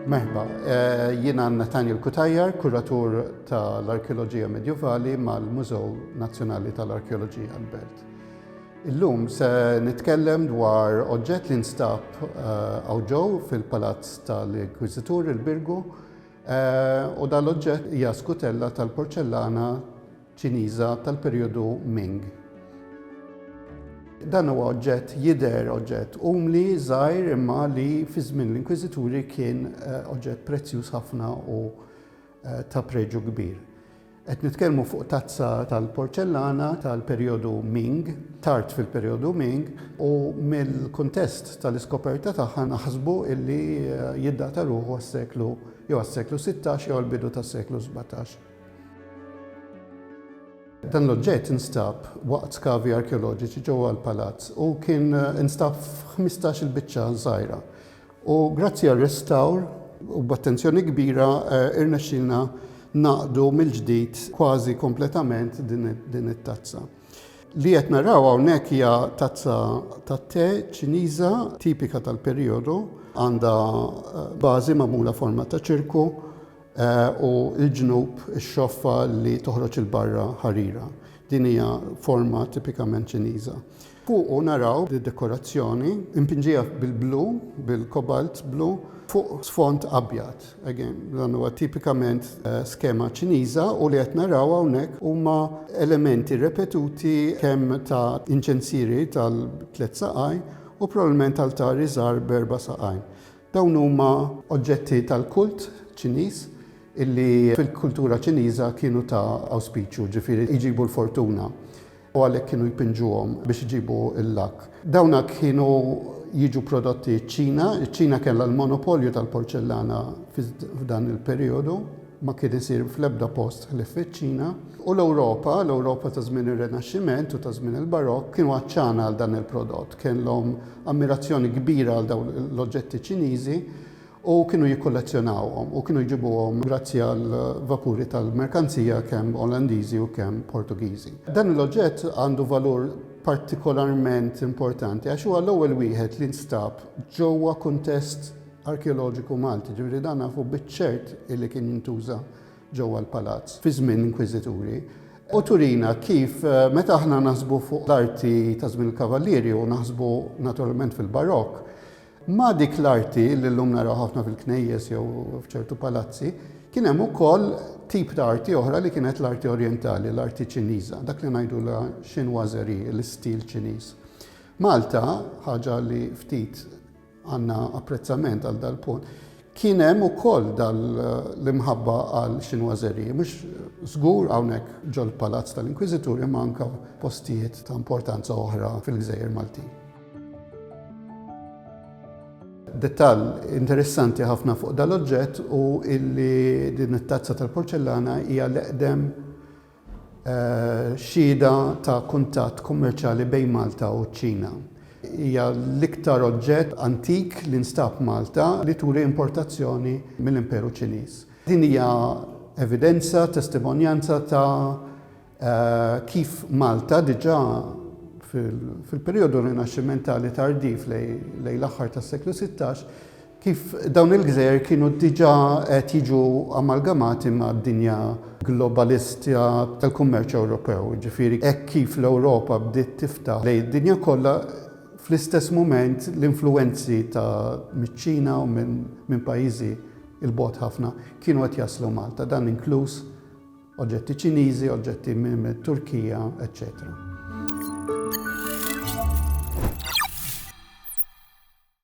Merħba, eh, jiena Nathaniel Kutajjar, kuratur tal-Arkeoloġija Medjuvali mal-Mużew Nazzjonali tal-Arkeoloġija Albert. Illum se nitkellem dwar oġġett li nstab eh, għawġow fil-Palazz tal-Inkwizitur il-Birgu u dan l-oġġett hija skutella tal-porċellana Ċiniża tal-perjodu Ming. Dan huwa oġġett jidher oġġett umli, żgħir imma li fi żmien l-Inkwiżituri kien eh, oġġett prezzjuż ħafna u eh, ta' preġu kbir. Qed nitkellmu fuq tazza tal-porċellana tal-perjodu Ming, tard fil-perjodu Ming, u mill-kuntest tal-iskoperta tagħha naħsbu illi jiddata ruħu għas-seklu jew għas-seklu sittax jew għall-bidu tas-seklu sbatax. Dan l-oġġett instab waqt skavi arkeoloġiċi ġewwa l-palazz u kien instab f'ħmistax-il biċċa żgħira U grazzi għar-restawr u b'attenzjoni kbira irnexxielna ngħaqdu mill-ġdid kważi kompletament din it-tazza. Li qed naraw hawnhekk hija tazza tat-te Ċiniża tipika tal-perijodu, għandha bażi magħmula forma ta' ċirku u l-ġnub ix-xoffa li toħroġ 'il barra ħarira. Din hija forma tipikament Ċiniża. Fuqu naraw id-dekorazzjoni impinġija bil-blu, bil-cobalt blu, fuq sfond abjad. Again, dan huwa tipikament skema Ċiniża u li qed naraw hawnhekk huma elementi repetuti kemm ta' inċensieri tal-tliet saqajn u probabbilment altari żgħar b'erba' saqajn. Dawn huma oġġetti tal-kult Ċiniż illi fil-kultura Ċiniża kienu ta' awspiċju, ġifieri jġibu l-fortuna. u għalhekk kienu jpinġuhom biex iġibu l-lakk. Dawna kienu jiġu prodotti ċ-Ċina, iċ-Ċina kellha l-monopolju tal-porċellana f'dan il-perijodu, ma kien isir fl-ebda post ħlief fiċ-Ċina, u l-Ewropa, l-Ewropa ta' żmien ir-Rinaxximent u ta' żmien il-Barokk, kienu għatxana għal dan il-prodott, kellhom ammirazzjoni kbira għal dawn l-oġġetti Ċiniżi u kienu jikkollezzjonawhom u kienu jġibuhom grazzi għal vapuri tal-merkanzija kemm Olandiżi u kemm Portugiżi. Dan il-oġġett għandu valur partikolarment importanti għax huwa l-ewwel wieħed li nstab ġewwa kuntest arkeoloġiku Malti, ġifieri dan nafu biċ-ċert illi kien jintuża ġewwa l-palazz fi żmien l-inkwiżituri, u turina kif meta aħna naħsbu fuq l-arti ta' żmien il-kavallieri u naħsbu naturalment fil-Barokk, Ma' dik l-arti li llum naraw ħafna fil-knejjes jew f'ċertu palazzi, kien hemm ukoll tip ta' arti oħra li kienet l-arti orjentali, l-arti Ċiniża, dak li ngħidulha chinoiserie, l-istil Ċiniż. Malta, ħaġa li ftit għandna apprezzament għal dal-punt, kien hemm ukoll dal l-imħabba għal chinoiserie, mhux żgur hawnhekk ġol-Palazz tal-Inkwiżitur imma anke postijiet ta' importanza oħra fil-gżejjer Maltin. Dettall interessanti ħafna fuq dan l-oġġett hu illi din it-tazza tal-porċellana hija l-eqdem eh, xhieda ta' kuntatt kummerċjali bejn Malta u ċ-Ċina. Hija l-iktar oġġett antik li nstab Malta li turi importazzjoni mill-Imperu Ċiniż. Din hija evidenza, testimonjanza ta' Kif Malta diġà fil-perijodu Rinaxximentali tardiv lejn l-aħħar tas-seklu sittax, kif dawn il-gżejjer kienu diġà qed jiġu amalgamati mad-dinja globalista tal-kummerċ Ewropew, jiġifieri hekk kif l-Ewropa bdiet tiftaħ lejn id-dinja kollha, fl-istess mument l-influwenzi ta' miċ-Ċina u minn pajjiżi 'l bogħod ħafna kienu qed jaslu Malta, dan inkluż Oġġetti Ċiniżi, oġġetti mit-Turkija, eċċetera.